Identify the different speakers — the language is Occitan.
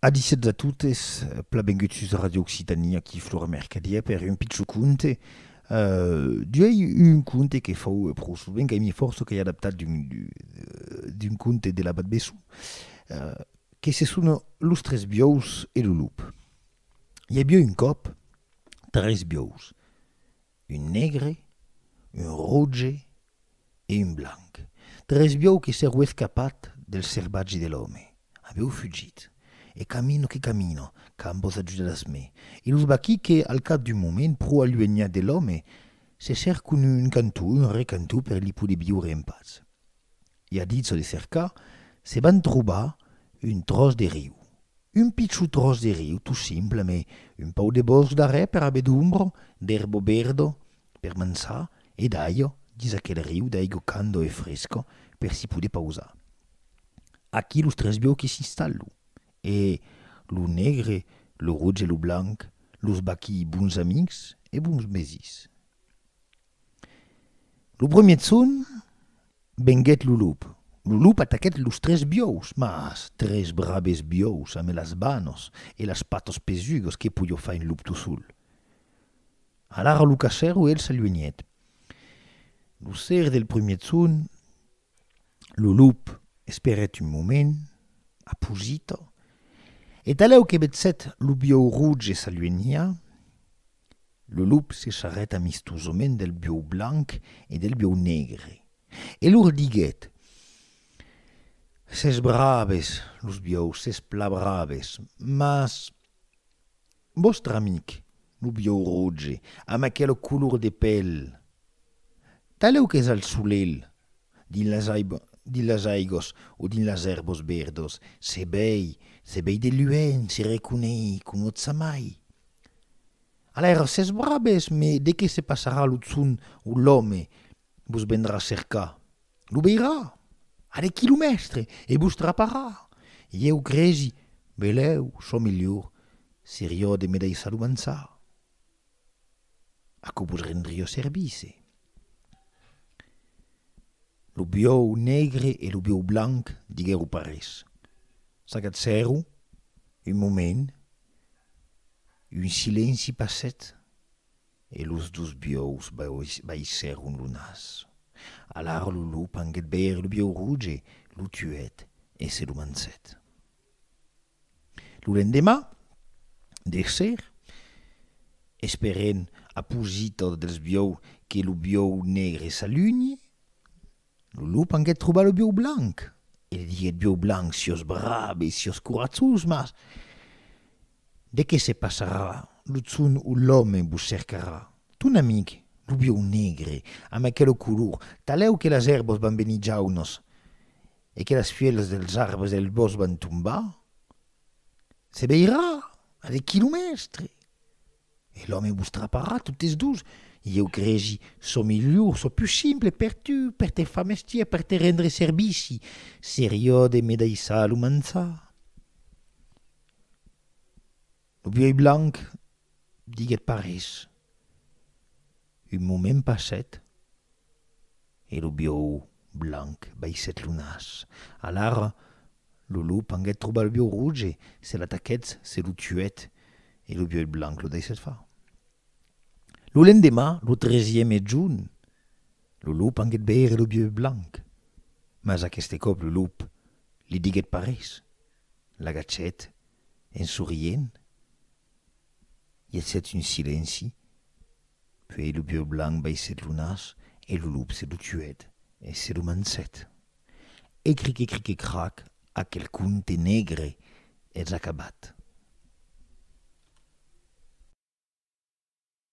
Speaker 1: Adisètz a totes, plabenguts sus Ràdio Occitània, aquí Flora Mercadièr per un pichon conte. D'uèi un conte que fau pro sovent, qu'ai mi fòrça qu'ai adaptat d'un conte de l'abat Bessou, que se sona Los tres biòus e lo lup. I aviá un còp tres biòus. Un negre, un roge e un blanc. Tres biòu que s'èro escapat del servatge de l'òme. Avèu fugit. E camino que camino, qu'an vos ajudas me. E los vaquí que, al cap d'un moment, pro aluenhat de l'òme, se cercon un cantó, un recantó per li poder viure en patz. I a dit çò de cercar, se van trobar un tròç de riu. Un pichut tròç de riu, tot simple, amé un pauc de bòsc darrèr per aver d'ombro, d'erbo verdo per mançar e d'aigo dins aquel riu d'aigo cando e fresco per si poder pausar. Aquí los tres biòqui s'installo e lo negre, lo roge e lo blanc, los vaquí bons amics e bons mesís. Lo premier son venguèt lo lop. Lo lop ataquèt los tres biòus, mas tres brabes biòus ame las banos e las patas pesugas que podió far un lop tot sol. Alara lo cachèro el s'aluenhèt. Lo ser del premier son Lo lop esperèt un moment, aposita, e d'alèu que vetzèt lo biòu roge s'aluenhia, lo lop se charrèt amistosament del biòu blanc e del biòu negre e lor diguèt, Sètz braves, los biòus, sètz plan braves, mas Vòstre amic, lo biòu roge, amb aquela color de pèl, talèu qu'es al solelh, dins las aigós o dins las èrbos verdos, se vei, se vei de luenh, se reconei, conòtza mai. Alaira, s'es brabes, me de qué se passarà lo tson o l'òme, Vos vendrà cercar. Lo veirà a de quilomèstre e vos traparà. Ieu cresi, velèu, çò melhor serió de me daissar lo mançar. Aquò vos rendrió service. Lo biòu negre e lo biòu blanc diguèro pas res. S'agatzèro un moment, un silenci passèt. E los dos biòus baissèron lo nas. Alara lo lop anguèt veire lo biòu roge, lo tuèt e se lo mançèt. Lo lendemà, d'èsser, esperent a posita dels biòus que lo biòu negre s'alunhi, Lo lop anguèt trobar lo bieu blanc e li diguèt, Bieu blanc, siós brave e siós coratjós, mas de qué se passarà? Lo son o l'òme vos cercarà. Ton amic, lo bieu negre, amb aquelo color, talèu que las èrbas van venir jaunas e que las fièlhas dels arbres del bòsc van tombar, se veirà a de quilomèstres. E l'òme vos traparà totes dus, ieu cresi çò milhor, çò pus simple per tu, per te far mestièr, per te rendre servici, seriò de me daissar lo manjar. Lo vièlh blanc diguèt pas res. Un moment passèt, e lo biòu blanc baissèt lo nas. Alara, lo lop anguèt trobar lo biòu roge, se l'ataquèt, se lo tuèt, e lo biòu blanc lo daissèt far. Lo lendemà, lo tresieme jorn, lo lop anguèt veire lo biòu blanc, mas aqueste còp lo lop li diguèt pas res, l'agachèt en sorrient. I agièt un silenci, puèi lo bieu blanc baissèt lo nas e lo lop se lo tuèt e se lo manjèt. E crique-crique-crac, aquel conte negre es acabat.